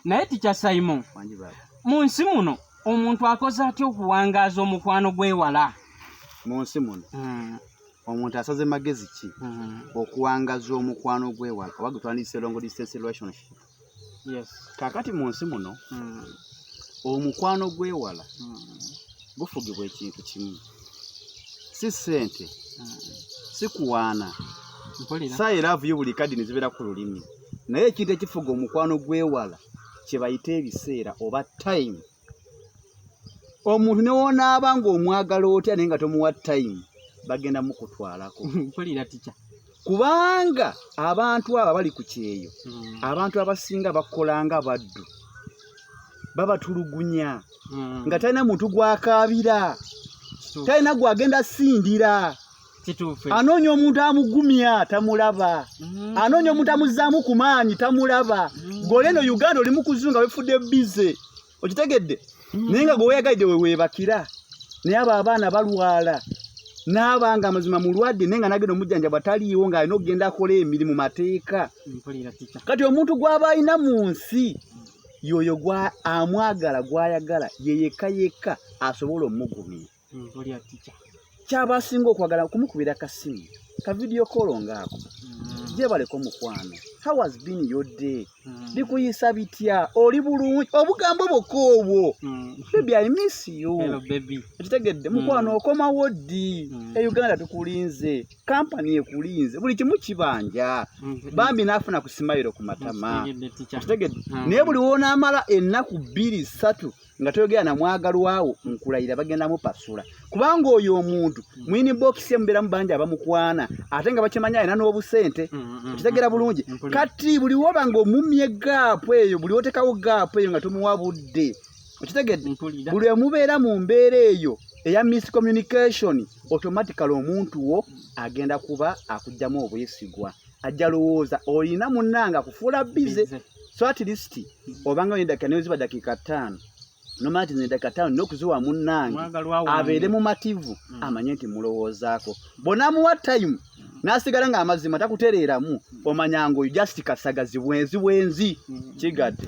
naye tikya saimo mu nsi muno omuntu akoze atya okuwangaaza omukwano gwewala mu nsi muno hmm. omuntu asaze magezi ki hmm. okuwangaza omukwano gwewala oba gutwandise longo distance relationship kakati mu nsi muno hmm. omukwano gwewala gufugibwa ekintu kimu si sente si kuwaana sayi laavu yo buli kadini zibeera ku lulimi naye ekintu ekifuga omukwano gwewala kyebayita ebiseera oba time omuntu newonaaba ngaomwagala otya naye nga tomuwa time bagenda mukutwalako kubanga abantu abo abali ku kyeyo hmm. abantu abasinga bakola nga baddu babatulugunya hmm. nga talina muntu gwakaabira talina gwagenda sindira anoonya omuntu amugumya tamulaba mm. anoonya omuntu amuzzaamu ku maanyi tamulaba mm. gole eno uganda oli mukuzunga wefudde bize okitegedde mm. naye nga gweweyagalidde weweebakira naye abo abaana balwala naaba nga amazima mulwadde naye nga nagenda omujjanja bwataliiwo nga alina okugenda akola emirimu mateeka kati omuntu gwaba alina mu nsi yoyo amwagala gwayagala yeyeka yekka asobola omugumira mm, kyaba asinga okwagala kumukubira kasimu ka video kolo ngaako mm. gyebaleka omukwano how has been your day mm. bikuyisa bitya oli bulungi obugambo bwokka obwo bebi i miss you ekitegedde mukwano okomawo ddi e uganda tukulinze kampani ekulinze buli kimu kibanja bambi naafuna ku simayiro ku matama ekitegedde naye buli wonaamala ennaku bbiri ssatu nga toyogera na mwagalwawo nkulayira bagenda mupasula kubanga oyo omuntu mm. mwini bokisi emuberamu bangi abamukwana ate nga bakimanyi alina n'obusente mm, mm, okitegera bulungi kati buli woba nga omumye gaapu eyo buli wotekawo gaapu eyo nga tomuwa budde okitegedde buli emubeera mu mbeera eyo eya miscommunication automatically omuntu wo agenda kuba akugyamu obwesigwa ajja lowooza olina munnanga kufuula bize so at least obanga oyendakika naye oziba dakiika ttaano nomala ti nedakika ttaano nina okuziwa munnange abeere mumativu mm. amanye nti mulowoozaako bonamuwa time nasigala nga amazima takutereeramu mm. omanya ngaoyo just kasagazi bwenzi bwenzi mm. kigadde